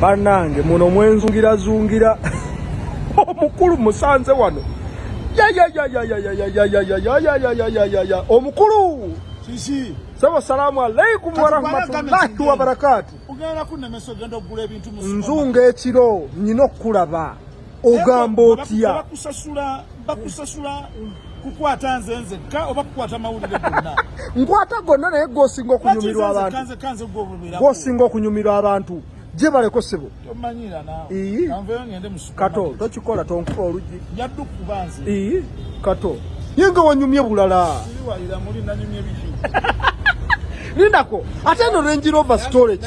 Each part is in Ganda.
banange muno mwenzungira zungira omukulu musanze wano omukulu sebo salamu alaikum warahmatullahi wabarakatu nzunga ekiro nyina okukulaba ogamba otya bakusasula bakusasula kukwata nze nzekka oba kukwata mawulire gonna nkwata gonna naye gwosinga okunyumirwa abantu gwosinga okunyumirwa abantu gyebaleko sebo kato tokikola tonkuba oluggi kato ye nga wanyumye bulala lindako ate eno renjirova storage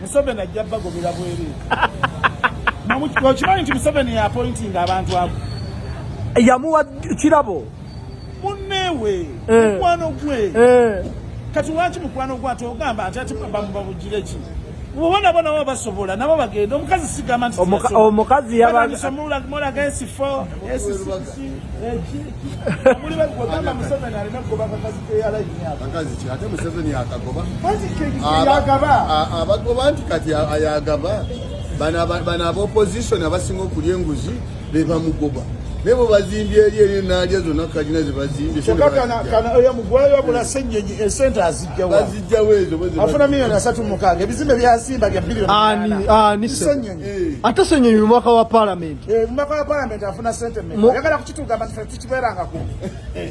Museveni ajja bagobera bwereere okimanyi nti museveni yapointinga abantu abo yamuwa kirabo munneewe eh. mukwano gwe eh. kati lwaki mukwano gwe ate ogamba nti ati bamubabujire ki oba nabo nabo basobola nabo bagenda omukazi sigamba nti omukazi yabaomukazi abagoba nti kati ayagaba bano abaopposition abasinga okulya enguzi bebamugoba naye bwe bazimbye eri eri naalya zonna kalina ze bazimbyebaziggyawo ezo ebizimbe byasimba bya bilioni ate senyonyi mu mwaka wa palamenti eh,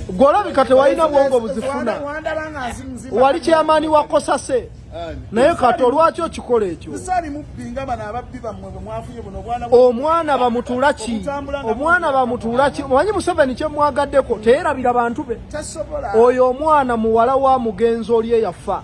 gwolabika tewalina bwongo buzifuna wali kyamaani wa kosase naye kati olwaki okikola ekyo omwana bamutuula ki omwana bamutuula ki omanyi museveni kyemwagaddeko teyerabira bantu be oyo omwana muwala wa mugenzi oli eyafa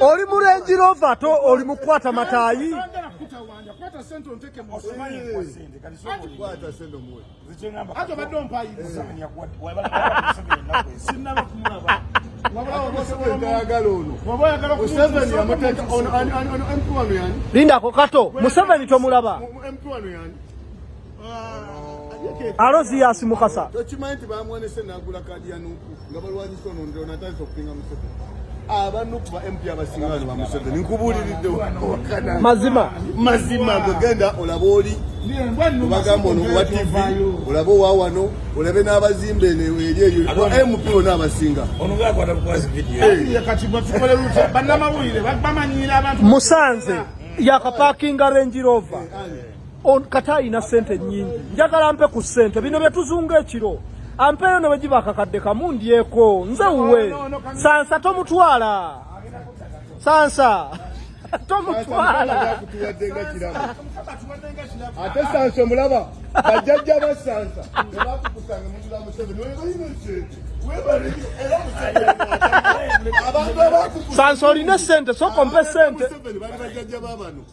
oli mu Range Rover ate oli mu kukwata mataayi lindako kato museveni tomulaba alozi yasi mukasa tokimanyi nti bamwonese nagula kadi ya nuku nga balwanyisa ono ndiro natandisa okupinga museveni abanuku ba mp abasinga bano ba museveni nkubuuliridde wakana mazima mazima gwegenda olaba oli obagamba ono owa tv olaba owa wano olabe n'abazimba eno eri eyo mp ona abasinga musanze yakapakinga renjirova On kata alina sente nyingi njagala mpe ku sente bino byetuzunga ekiro ampeeyo ne bwegiba akakadde kamu ndyeko nze wuwe sansa tomutwala sansa tomutwala ate sansa omulaba bajjajja ba sansa ebakukusanga mutula museveni webalina sente sansa olina sente sokompe sente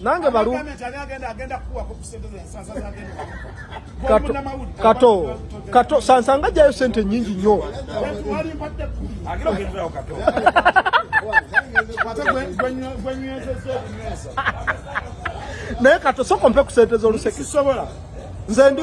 nange balu kato kato kato sansanga jayo sente nyingi nyo naye kato sokompe kusente zoluseke nze ndi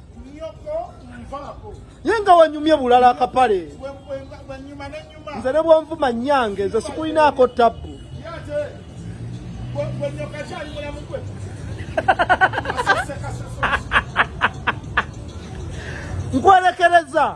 ye nga wanyumye bulala akapale nze ne bwonvuma nyange nze sikulinaako tabbu nkwerekereza